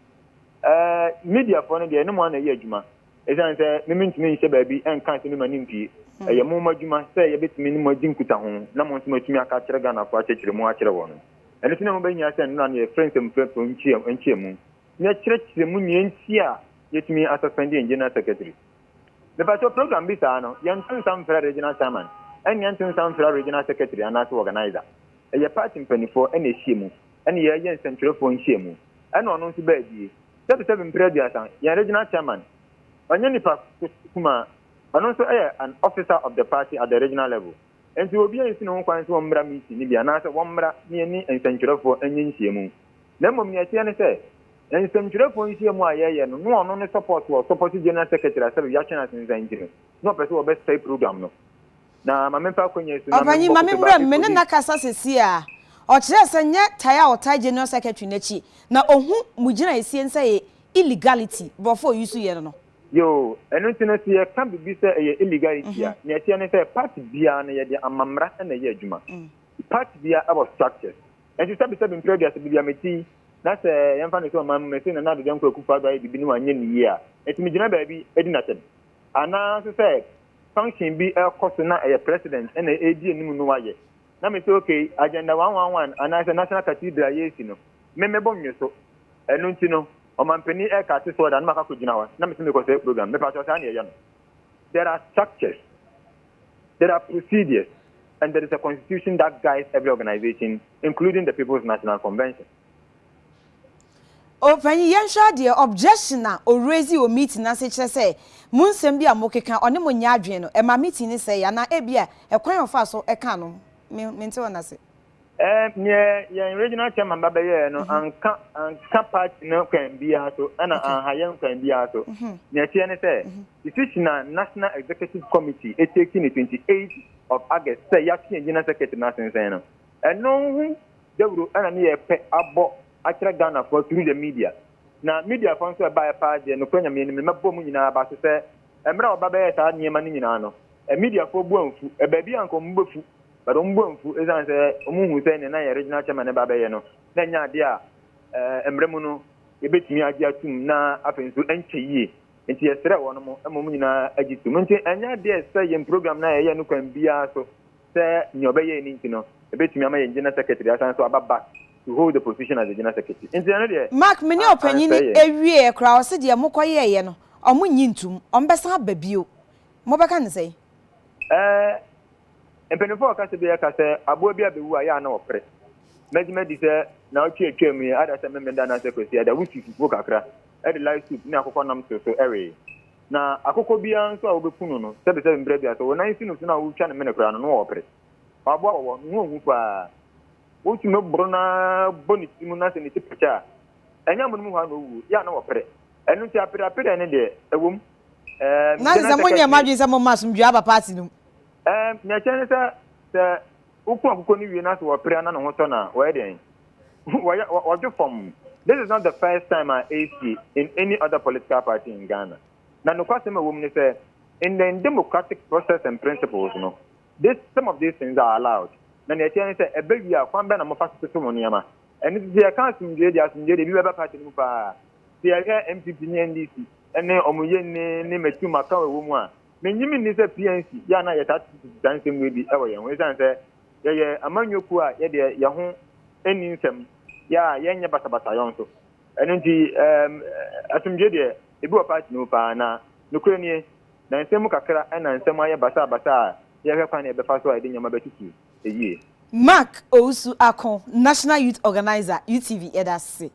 ɛɛ mediafoɔ no deɛ ɛne mo ana ɛyɛ adwuma. Esiane sɛ me mentumi nhyɛ baabi nka sɛ me ma no mpue, ɛyɛ mo mmadwuma sɛ yɛbɛtumi ne mo adi nkutaho na mo nso moatumi aka akyerɛ Ghanafoɔ akyerɛkyerɛ mu akyerɛ wɔn. Ɛno nti na ɛho bɛhia sɛ nnora no yɛfrɛ nsɛmfrɛfrɛ nhyiamu na yɛkyerɛkyerɛ mu nea nti a yɛtumi asuspɛnde yɛn General Secretary. Mepakyɛw, program bi saa no, yɛnto nsa mfrɛ Regional Chairman, ɛne yɛnto nsa mfrɛ Regional Secretary anaasɛ Organiser. Ɛyɛ party mpaninfoɔ na ɛhyia mu na yɛyɛ nsɛmtwerɛfoɔ nhyiamu na ɔno nso baa bie. Sɛbi sɛbi mprɛ aduasa, yɛn regional chairman, ɔnyɛ nipa kumaa, ɔno nso yɛ an officer of the party at the regional level. Nti obiara nsi ne ho kwan sɛ ɔmmra meeting no bi anaasɛ wɔmmra ne yɛne nsɛntwerɛfoɔ nyɛ nhyiamu. Na mmom nea ɛteɛ ne sɛ, nsɛntwerɛfoɔ nhyiamu a yɛyɛ no, na ɔno ne support wɔ support general secretary a sɛbi yɛatwɛn asensan nti no, na ɔpɛ sɛ ɔbɛsɛe program no. Na ma memfa akonnwa yi so na Ɔpanyin, ma memmɔ kupe memmra mu. baako Me ne nkosi. no akasa seesei ara. Ɔkyerɛɛ sɛ nyɛ tae a ɔtae General Secretary no akyi na ohu mo gyinaesie no sɛ ɛyɛ illegality, borɔfo a use yɛ no no. Yoo, ɛno nti no sɛ yɛka biribi sɛ ɛyɛ illegality a, nea ɛteɛ ne sɛ part biara no yɛde ama mmara na ɛyɛ adwuma. Part biara wɔ structures. Nso sɛbesɛbe mprɛ aduasa baabi a mete yi, na sɛ yɛmfa no sɛ ɔman mu, mese Nana Addo Dankwa Akufo-Addo ayɛ biribi na wanyɛ no yie a, metumi gyina baabi di no atɛm. Anaa nso sɛ function bi ɛkɔ so na ɛyɛ president ɛna ɛredi anim no wayɛ na me sɛ okay agenda one one one anaasɛ national cathedral a yɛresi no me mɛbɔ nwe so ɛno nti no ɔmampanin ɛka ate so ɔda no makakɔ gyina hɔ na me sɛ mekɔ sɛ program me paatɔ saa ne ɛyɛ no there are structures there are procedures and there is a constitution that guides every organization including the people's national convention O panyin yɛnhwɛ adeɛ objection na o raise wɔ meeting no ase kyerɛ sɛ mo nsɛm bi a mo keka ɔne mo nyɛ adwene no ɛma meeting no sɛe anaa ebi a ɛkwan a ɔfaa so ɛkaa no me mente wɔn ase. Eh neɛ yɛn regional chairman ba bɛyɛɛ no anka anka party no kwan biara so ɛna anha yɛn kwan biara so neɛ ɛteɛ ne sɛ decision a national executive committee etake ne 28 of August sɛ yɛato yɛn gyina secretary no asensɛn no Ɛno ho dawuro na ne yɛpɛ abɔ akyerɛ Ghanafoɔ through the media. Na mediafoɔ nso a ɛbaeɛ paa deɛ nokorɛ Nyame anim no mɛbɔ mo nyinaa aba ase sɛ mmerɛ a wɔba bɛyɛɛ saa nneɛma no nyinaa no mediafoɔ bo amfu. Baabi a anka wɔn bɛfu but wɔn bo amfu ɛsiane sɛ wɔhuu sɛ nea na yɛn Regional Chairman no ba abɛyɛ no na ɛnyɛ adeɛ a mmerɛ mu no yɛbɛtumi agye atom na afei nso ɛnkyɛ yie nti yɛsrɛɛ wɔnom ma wɔn nyinaa gye tom. Nti ɛnyɛ adeɛ a ɛsɛ sɛ yɛn program no a yɛyɛ no kwan biara so sɛ nea ɔbɛyɛe no nti no, ebetumi ama yɛn General Secretary asan nso aba back to hold the position as the General Secretary. Nti ɛno deɛ, Mark, me ne a ɔpanyin ansɛe yɛn. awieɛ koraa, ɔse deɛ mokɔyɛeɛ no, ɔmo nnye ntum, ɔmo bɛsan aba bio. Mobɛka no sɛn? Ɛɛ, mpanyinfoɔ a wɔkasa biara ka sɛ aboa bi abɛwu a, yɛ a na wɔpere. Mɛgye madi sɛ naawɔtwe a atwaa mu yi, ada sɛ Memeneda anaasɛ Kwasiada, wosi fufuo kakra de lye soup ne akokɔnam too so wee. Na akokɔ biara nso a wobeku no no, sɛbesɛbe mberɛ bi a, sɛ wɔn nan si no so no a wotwa no mene koraa no, na wɔpere. Ɔaboa wɔ hɔ, ne ho hu paa. Wotumi boro no ara bɔ ne ti mu na sɛ ne ti pɛkyɛ a, ɛnyɛ amonom hɔ ara na owuo, yɛ a na wɔpere. Ɛno nti apereapereɛ no deɛ, ɛwom, ɛɛm, Nanso sɛ monyɛ mo adwene sɛ momma asomdwoeɛ aba paati no mu. Ɛɛm, nea ɛkyerɛ ne sɛ, sɛ Woku akokɔ no wie na sɛ wɔpere a na ne ho sɔ no a, wɔyɛ dɛn? Wɔyɛ, wɔ, wɔdwo fam. This is not the first time a ɛresi in any other political party in Ghana. Na nokwasɛm a ɛwɔ mu ne sɛ, in the democratic process and principles no, this, some of these things are allowed. Na nea ɛteɛ ne sɛ, ɛba wie a, kwan bɛn na mofa so toto mo nneɛma? Ɛno nti, sɛ yɛka asomdwoe deɛ, asomdwoe deɛ, ebi bɛba party no mu paa. Sɛ yɛhwɛ NPP ne NDC ne wɔn yɛ nni ne matu maka a ɛwɔ mu a, Minnye minni sɛ PNC yɛ a na yɛtaa tete tete saa nsɛm wei bi wɔ yɛn ho esiane sɛ yɛyɛ amanyɔ kuo a yɛ deɛ yɛn ho nni nsɛm yɛ a yɛnyɛ basabasa yɔn nso ɛno nti ɛɛm asomdwoe deɛ ebi wɔ party no mu paa na nokorɛ nie na nsɛm mu kakra na nsɛm ayɛ basaa basaa a yɛhwɛ kwan na yɛbɛfa so a yɛde nneɛma bɛtutu yie. Mark Owusu Ako, National Youth Organiser, UTV, yɛda ase.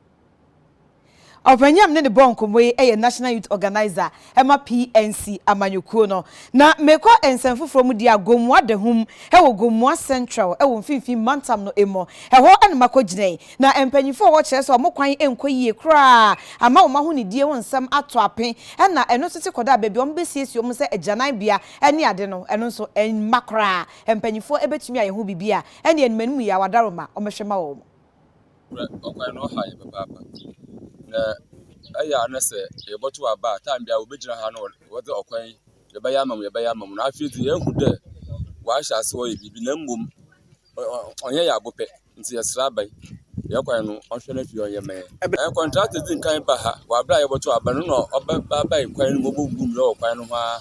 Ɔpanyinam ne no bɔɔ nkɔmmɔ yi yɛ National Youth Organiser ma PNC amanyɔkuo no. Na mekɔ nsɛm foforɔ mu deɛ a, Gomoa Dahum wɔ Gomoa Central wɔ mfimfini mantam no mu. Ɛhɔ na makɔ gyinae. Na mpanyinfoɔ wɔ hɔ kyerɛ sɛ wɔn kwan nkɔ yie koraa ama wɔn ahonidie ho nsɛm ato ape. Ɛna ɛno nso te kɔdaa baabi a wɔn bɛsiesie wɔn sɛ agyananbea ne ade no, ɛno nso mma koraa. Mpanyinfoɔ bɛtumi ayɛ ho biribi a, ɛneɛ ne m'anim yɛ awadaro ma wɔn bɛhwɛ ma wɔn. Hwɛ, ɔkwan no ɔha yɛn papaapa, na ɛyɛ a na sɛ yɛbɔto aba a, tan biara wɔbɛgyina ha na wɔdze ɔkwan yi yɛbɛyɛ ama mo, yɛbɛyɛ ama mo. Na afei dze yɛahu dɛ wɔahyɛ ase wɔyɛ biribi na mbom ɔnnyɛ yɛn abo pɛ, ntsi yɛserɛ aban dɛ kwan no ɔnhwɛ na afei ɔnyɛ mma hɛn. Kɔntrakta dzi nkan baa ha wɔ aber a yɛbɔto aba no, nna ɔbae kwan no mu, obobubu mu wɔ kwan no ho ara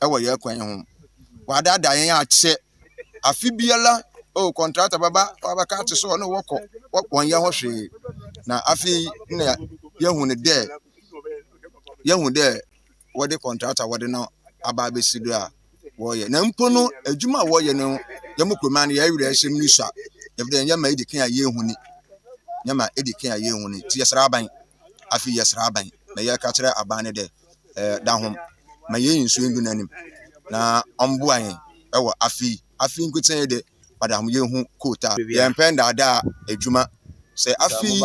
wɔ yɛn kwan ho. Wɔadaadaa yɛn akyɛ. Afe biara, oh, kɔntrata bɛba, wɔabɛka ate sɛ ɔne wɔkɔ, wɔn yɛn ho hwee. Na afei na yɛhu no dɛ, yɛhu dɛ wɔde kɔntrata wɔde no aba abɛsi do a wɔreyɛ. Na mpo no, adwuma a wɔreyɛ no, yɛn mu kuruma no, yɛn werɛ hyɛ mu sua. Ɛfiri dɛ, yɛma edi kan a yɛnhu ni. Yɛma edi kan a yɛnhu ni. Nti yɛsrɛ aban. Afei yɛsrɛ aban. Na yɛka kyerɛ aban no dɛ, eh, da ho ma yɛn nsuo ndu n'anim na ɔmboa yɛn ɛwɔ afe yi afe yi nkotsɛn yi de ɔda ho yɛn ho kootaa yɛn pɛ ndaadaa adwuma sɛ afe yi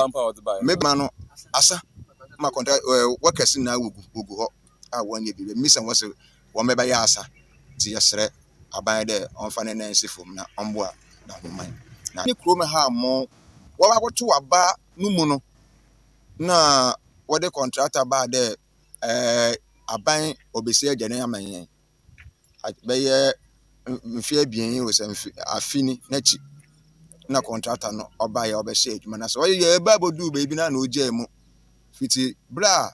mɛma no asa ma kɔntra eh, wɔkɛse nyinaa wɔgu wɔgu hɔ a wɔnyɛ bi bɛmisa wɔ sɛ wɔn bɛbɛyɛ asa nti yɛsrɛ aban dɛ ɔmfa ne nan si fam na ɔmboa da ho man na ne kurom ha mo wɔbɛkɔto aba no mu no na wɔdze kɔntrakta baa dɛ aban obesie dan yi ama hɛn. Bɛyɛ mfe ebien yi osian mfe afe yi n'ekyir na kɔntrakta no bae a ɔbɛhyɛɛ edwuma no ase. Ɔyɛ baa bodu beebi no ana ogyaa mu. Fitsi ber a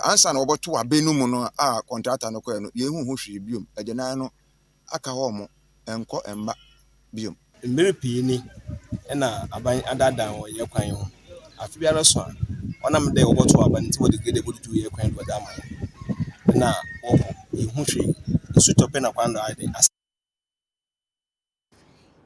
ansaana wɔbɔtow aber no mu no a kɔntrakta no kɔe no, yennhu ho hwee bio. aka hɔ wɔn nkɔ mma biom. Mber pii ni na aban adaadaa hɔn yɛ kwan ho. Afe biara so a, ɔnam dɛ wɔbɔtow aba ntsi wɔdze gede boduduw yɛ kwan do wɔdze ama hɔn. Nna wɔkɔ, yennhu hwee. Nsu tɔ pɛ na kwan do ayɛ dɛ asɛɛ.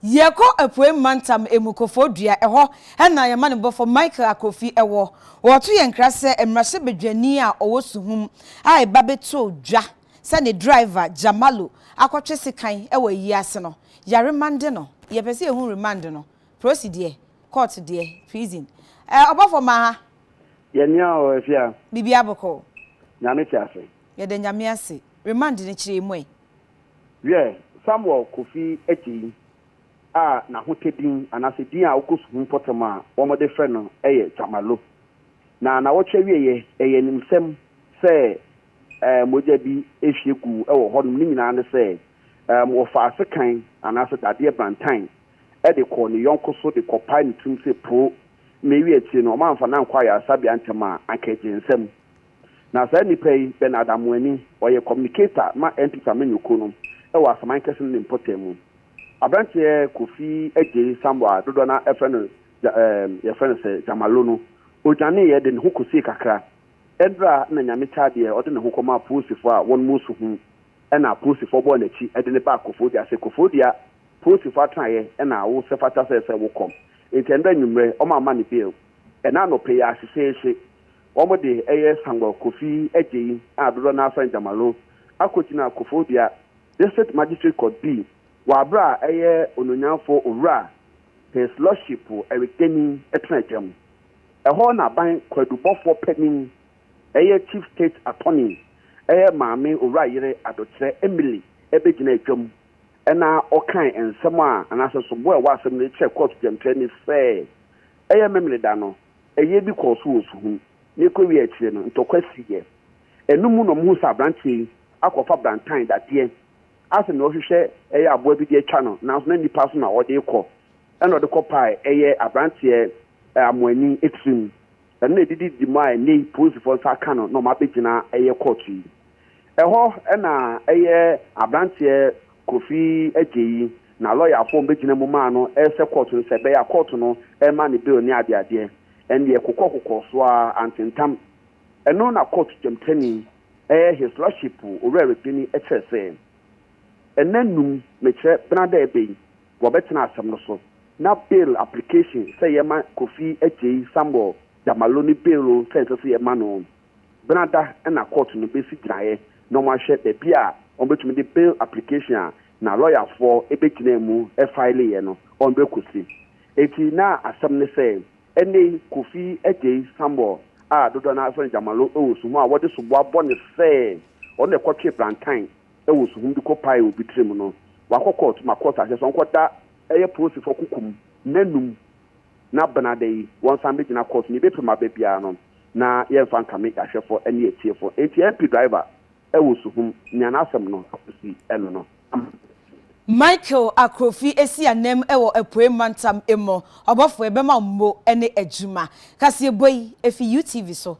Yɛkɔ Epuei Mantam Emukofo Dua, hɔ na yɛn amanyɔbɔfo Michael Akofi wɔ. Wɔto yɛn nkra sɛ mmarahyɛbadwani a ɔwɔ Suhum a eba bɛtoo dwa sɛ ne driver Jamalu akɔtwe sekan wɔ ayi ase no, yɛaremande no. Yɛpɛ sɛ yɛhu remand no, prosi deɛ, court deɛ, prison. Eh, ɔbɔfo ma ha. Yɛ nea ɔ afia. Biribiara bɔkɔɔ. Nyame te ase. Yɛda Nyame ase. Remand no kyerɛ mu ɛ? Wiɛ, Samuel Kofi Adjei a n'ahotadin anaasɛ din a ɔkɔ sukuu mpɔtam a wɔde frɛ no yɛ Jamalu. Na nnawɔtwe awieɛ, ɛyɛ animsɛm sɛ mogya bi hwie guu wɔ hɔnom no nyinaa ne sɛ wɔfaa sekan anaasɛ dadeɛ bantan de kɔɔ ne yɔnko so de kɔpae ne tirim sɛ poo, na ewie akyiri no wɔamfa no ankɔ ayaresabea ntɛm a, anka agye nsam. Na saa nipa yi, Bernard Amoani, ɔyɛ communicator ma MP Samanyu kuo no wɔ Asaman kɛse no ne mpɔtam mu. Aberanteɛ Kofi Adjei Samoa a dodoɔ no ara frɛ no Dja ɛɛm yɛfrɛ no sɛ Djamalo no, ɔdwaneeɛ de ne ho kɔsiee kakra Ɛberɛ a na Nyame taa deɛ ɔde ne ho kɔma apolisifoɔ a wɔnom nsu ho ɛna apolisifoɔ bɔɔ n'akyi de no baa Kofodua sɛ Kofodua polisifoɔ atenaeɛ ɛna wo sɛ fata sɛ sɛ wo kɔm nti ɛnda anwummerɛ wɔn amma no bail ɛna anɔpa yi ara hyehyeehye wɔn de ɛyɛ Sangor Kofi Adjei a dodoɔ no ara frɛ no Jamalo akɔgyina Kofodua District Magistrate Court bii wɔ aberɛ a ɛyɛ Onuonyamfoɔ Owura His Lordship Eric Deni tena adwam. Ɛhɔ na aban kwadubɔfoɔ panin, ɛyɛ Chief State Attorney, ɛyɛ Maame Owurayere Adokyerɛ Emily bɛgyinaa dwam na ɔkae nsɛm a anaasɛ soboɔ a ɛwɔ asɛm no mu kyerɛɛ kɔɔto dwamtrani sɛ ɛyɛ Memeneda no, ɛyɛ bi kɔɔ so wɔ Suhum na ɛkɔwiee akyire no ntɔkwa siiɛ. Ɛno mu na wɔhuu sɛ aberanteɛ yi akɔfa brantan dadeɛ asɛ nea ɔhwehwɛ ɛyɛ aboa bi de atwa no nanso na nnipa so na ɔde rekɔ ɛna ɔde kɔpae ɛyɛ aberanteɛ amoani tirim. Ɛno na ɛde didi mu a ɛnnɛ yi polisifoɔ nsa aka no na wɔabɛgyina ɛyɛ kɔɔto yi. Ɛhɔ na ɛyɛ aberanteɛ Kofi Adjei na lɔyafoɔ a wɔbɛgyina mu maa no rehyɛ kɔɔto no sɛ ɛbɛyɛ a kɔɔto no rema no bail ne adeadeɛ. Ɛndeɛ kokɔkokɔ so ara, antentam. Ɛno na kɔɔto dwamtani, ɛyɛ His Lordship Owura Regbeni kyerɛ sɛ, Ɛnna nnum, mekyerɛ, benada ɛbɛ yi, wɔbɛtena asɛm no so na bail application sɛ yɛma Kofi Adjei, Samuel Damalo ne bail o sɛ ɛnsɛ sɛ yɛma no o. Benada na kɔɔto no bɛsi gyinaeɛ na wɔahwɛ baabi a wɔbɛtumi de bail application a na lɔyafoɔ bɛgyinaa mu faeleeɛ no wɔn bɛkɔsi. Enti na asɛm ne sɛ ɛnnɛ yi Kofi Adjei, Samuel a dodoɔ no ara frɛ no Damalo wɔ suhɔ a wɔde soboa bɔ no sɛ ɔno na ɛkɔtwee Brantan wɔ suhum de kɔ pae obi tiri mu no wakɔ kɔɔt ma kɔɔt ahyɛ sɛ ɔnkɔ da ɛyɛ polisifɔ kuku mu nna num na bena da yi wɔn san bɛ gyina kɔɔt no yɛbɛ prim abɛ biara no na yɛn nfa nkame yɛahwɛfɔ ɛne yɛtiefɔ nti MP driver wɔ suhum nea n'asɛm no akosi ɛno no ama Michael Akrofi esi anam wɔ Apuei Mantam emu ɔbɔfoɔ bɛma mmo ne adwuma. Kaseɛbɔ yi efi UTV so